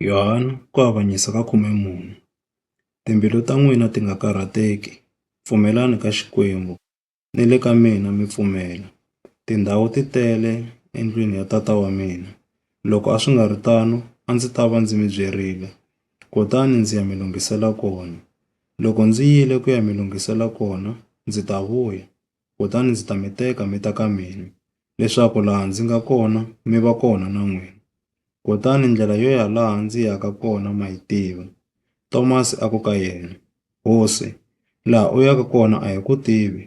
Yohana ku avanyisa ka khume mune, Timbilu ta n'wina ti nga karhateki, pfumelelani ka Xikwembu, ni le ka mina mi pfumela. Tindhawu ti tele endlwini ya Tata wa mina, loko a swi nga ri tano a ndzi ta va ndzi mi byerile, kutani ndzi ya mi lunghisela kona. Loko ndzi yile ku ya mi lunghisela kona, ndzi ta vuya, kutani ndzi ta mi teka mi ta ka mina, leswaku laha ndzi nga kona mi va kona na n'wina. Kutani ndlela yo ya laha ndzi yaka kona ma yi tiva. Tomasi a ku ka yena, Hosi, laha u yaka kona a hi ku tivi,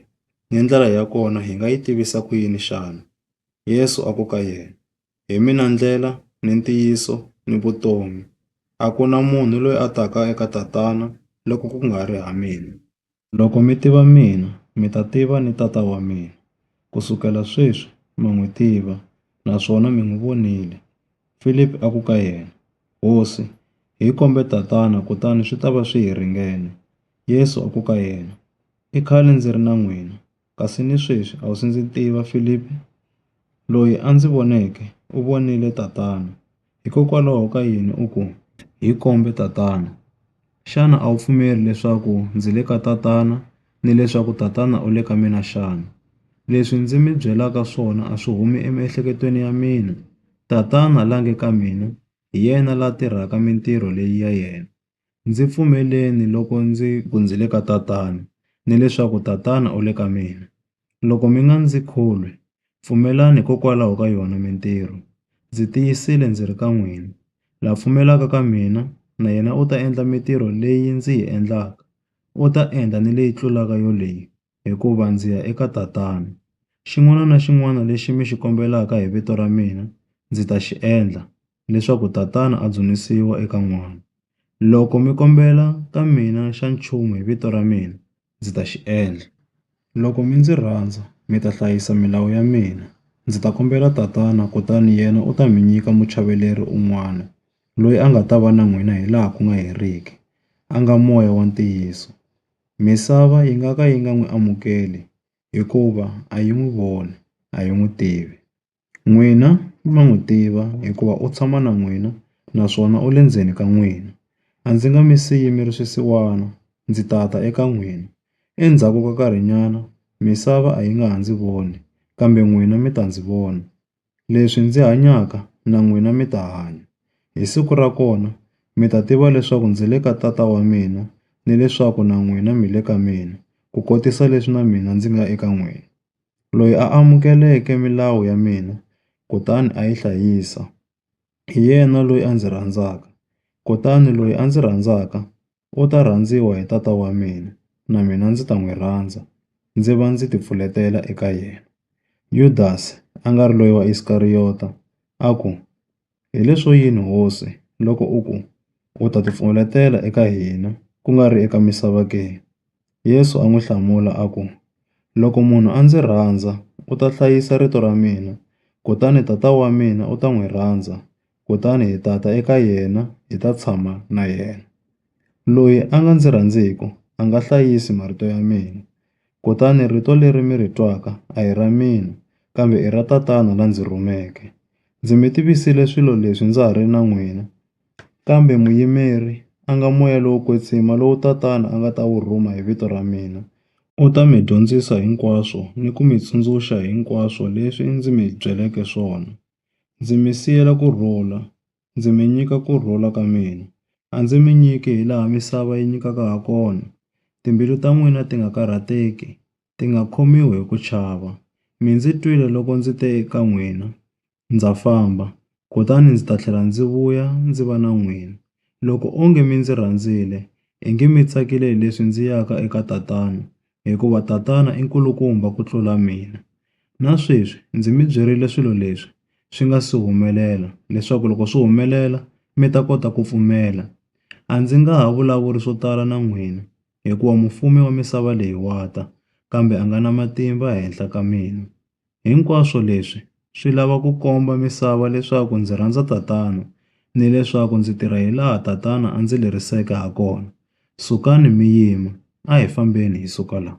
ni ndlela ya kona hi nga yi tivisa ku yini xana? Yesu a ku ka yena, Hi mina ndlela, ni ntiyiso, ni vutomi. A ku na munhu loyi a taka eka Tatana loko ku nga ri ha mina. Loko mi tiva mina, mi ta tiva ni Tata wa mina. Ku sukela sweswi ma n'wi tiva naswona mi n'wi vonile. Filipi a ku ka yena, Hosi, hi kombe Tatana kutani swi ta va swi hi ringene. Yesu a ku ka yena, I khale ndzi ri na n'wina Kasi ni sweswi a wu si ndzi tiva, Filipi. Loyi a ndzi voneke u vonile Tatana. Hikokwalaho ka yini u ku, Hi kombe Tatana? Xana a wu pfumeli leswaku ndzi le ka Tatana ni leswaku Tatana u le ka mina xana? Leswi ndzi mi byelaka swona a swi humi emiehleketweni ya mina. Tatana la nge ka mina, hi yena la tirhaka mintirho leyi ya yena. Ndzi pfumeleni loko ndzi ku ndzi le ka Tatana, ni leswaku Tatana u le ka mina. Loko mi nga ndzi kholwi, pfumelani hikokwalaho ka yona mintirho. Ndzi tiyisile ndzi ri ka n'wina, la pfumelaka ka mina, na yena u ta endla mintirho leyi ndzi yi endlaka, u ta endla ni leyi tlulaka yoleyi, hikuva ndzi ya eka Tatana. Xin'wana na xin'wana lexi mi xi kombelaka hi vito ra mina, ndzi ta xi endla, leswaku Tatana a dzunisiwa eka N'wana. Loko mi kombela ka mina xa nchumu hi vito ra mina, ndzi ta xi endla. Loko mi ndzi rhandza, mi ta hlayisa milawu ya mina. Ndzi ta kombela Tatana, kutani yena u ta mi nyika Muchaveleri un'wana, loyi a nga ta va na n'wina hilaha ku nga heriki, a nga Moya wa ntiyiso. Misava yi nga ka yi nga n'wi amukeli hikuva a yi n'wi voni a yi n'wi tivi. N'wina ma n'wi tiva hikuva u tshama na n'wina naswona u le ndzeni ka n'wina. A ndzi nga mi siyi mi ri swisiwana, ndzi ta ta eka n'wina. Endzhaku ka nkarhinyana misava a yi nga ha ndzi voni, kambe n'wina mi ta ndzi vona. Leswi ndzi hanyaka, na n'wina mi ta hanya. Hi siku ra kona, mi ta tiva leswaku ndzi le ka Tata wa mina, ni leswaku na n'wina mi le ka mina, ku kotisa leswi na mina ndzi nga eka n'wina. Loyi a amukeleke milawu ya mina kutani a yi hlayisa, hi yena loyi a ndzi rhandzaka. Kutani loyi a ndzi rhandzaka, U ta rhandziwa hi Tata wa mina, na mina ndzi ta n'wi rhandza, ndzi va ndzi tipfuletela eka yena. Yudasi, a nga ri loyi wa Iskariyota, a ku, Hi leswo yini Hosi, loko u ku, U ta tipfuletela eka hina, ku nga ri eka misava ke? Yesu a n'wi hlamula a ku, Loko munhu a ndzi rhandza, u ta hlayisa rito ra mina, kutani Tata wa mina u ta n'wi rhandza, kutani hi ta ta eka yena hi ta tshama na yena. Loyi a nga ndzi rhandziku a nga hlayisi marito ya mina. Kutani rito leri mi ri twaka a hi ra mina, kambe i ra Tatana la ndzi rhumeke. Ndzi mi tivisile swilo leswi ndza ha ri na n'wina, Kambe muyimeri a nga moya lowo kwetsima lowu Tatana a nga ta wu rhuma hi vito ra mina. U ta mi dyondzisa hinkwaswo ni ku mi tsundzuxa hinkwaswo leswi ndzi mi byeleke swona. Ndzi mi siyela ku rhula, ndzi mi nyika ku rhula ka mina. A ndzi mi nyiki hi laha misava yi nyikaka ha kona. Timbilu ta n'wina ti nga karhateki, ti nga khomiwi hi ku chava. Mi ndzi twile loko ndzi te eka n'wina, Ndza famba, kutani ndzi ta tlhela ndzi vuya ndzi va na n'wina. Loko onge mi ndzi rhandzile, ingi mi tsakile hileswi ndzi yaka eka Tatana, hikuva Tatana i nkulukumba ku tlula mina. Na sweswi ndzi mi byerile swilo leswi swi nga si humelela, leswaku loko swi humelela mi ta kota ku pfumela. A ndzi nga ha vulavuli swo tala na n'wina, hikuva mufumi wa misava leyi wa ta, kambe a nga na matimba ehenhla ka mina. Hinkwaswo leswi swi lava ku komba misava leswaku ndzi rhandza Tatana ni leswaku ndzi tirha hilaha Tatana a ndzi leriseke hakona. Sukani mi yima, a hi fambeni hi suka laha.